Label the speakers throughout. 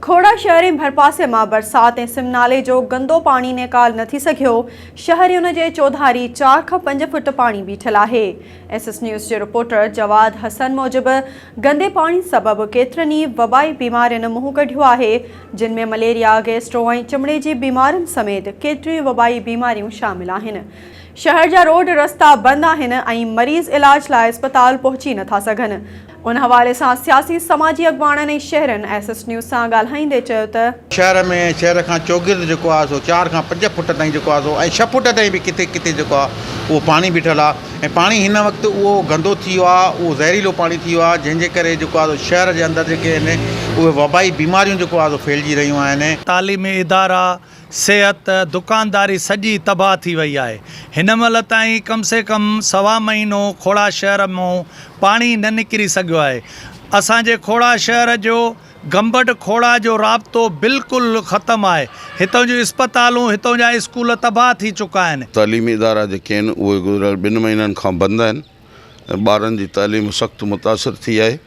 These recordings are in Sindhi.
Speaker 1: کوڙا شهر ۽ ڀرپاسي مان برسات ۽ سم نالي جو گندو پاڻي نيڪال نه ٿي سگهيو، شهرين جي چوڌاري چار کان پنج فوٽ پاڻي بيٺل آهي. ايس ايس نيوز جي رپورٽر جواد حسن موجب گندي پاڻي سبب ڪيترن ئي وبائي بيمارين منهن ڪڍيو آهي، جن ۾ مليريا، گيسٽرو ۽ چمڙي جي بيمارين سميت ڪيتريون وبائي بيماريون شامل آهن. شهر جا روڊ رستا بند آهن ۽ مريض علاج لاء اسپتال پهچي نه ٿا سگهن، ان حوالي سان سياسي سماجي اڳواڻن ۽ شهرين ايس ايس نيوز سان ڳالهائيندي چيو ته. شهر ۾ ۽ شهر کان
Speaker 2: چوگرد جيڪو آهي سو چار کان پنج فوٽ تائين جيڪو آهي سو ۽ ڇهه فوٽ تائين به ڪٿي ڪٿي جيڪو آهي اهو پاڻي بيٺل آهي ۽ پاڻي هن وقت اهو گندو ٿي ويو آهي اهو زهريلو پاڻي ٿي ويو آهي جنهن جي ڪري جيڪو آهي سو شهر جي اندر جيڪي آهن اهي وبائي بيماريون جيڪو آهي سو ڦهلجي رهيون آهن. تعليمي ادارا
Speaker 3: صحت، دڪانداري سڄي تباهه ٿي وئي آهي، هن مهل تائين ڪم سي ڪم سوا مهينو کوڙا شهر مون پاڻي نه نڪري سگهيو آهي، اسان جي کوڙا شهر جو گمبٽ کوڙا جو رابطو بلڪل ختم آهي، هتئون جون اسپتالون هتئون جا اسڪول تباهه ٿي چڪا آهن. تعليمي ادارا جيڪي
Speaker 4: آهن اهي گذريل ٻن مهينن کان بند آهن ۽ ٻارن جي تعليم سخت متاثر ٿي آهي،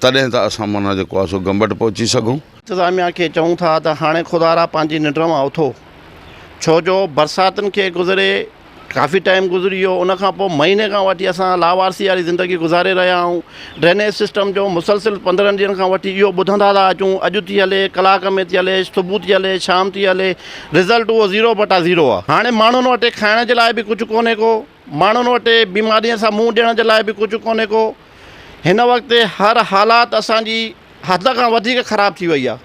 Speaker 4: تڏهن ته اسان معنيٰ جيڪو آهي سو گمبٽ پهچي سگهون. انتظاميا کي چئون
Speaker 5: ٿا ته هاڻي خدا را پنهنجي ننڊ مان اٿو ڇو جو برساتن کي گذري ڪافي ٽائيم گذري ويو ان کان پوء مهيني کان وٺي اسان لاوارثي واري زندگي گذاري رهيا آهيون ڊرينيج سسٽم جو مسلسل پندرهن ڏينهن کان وٺي اهو ٻڌندا ٿا اچون اڄ ٿي هلي ڪلاڪ ۾ ٿي هلي صبح ٿي هلي شام ٿي هلي رزلٽ اهو زيرو بٽا زيرو آهي هاڻي ماڻهن وٽ کائڻ جي لاء به ڪجهه ڪونهي ڪو ماڻهن وٽ بيمارين سان منهن ڏيڻ جي لاء به ڪجهه ڪونهي ڪو. هن وقت هر حالات اسان جي حد کان وڌيڪ خراب ٿي وئي آهي.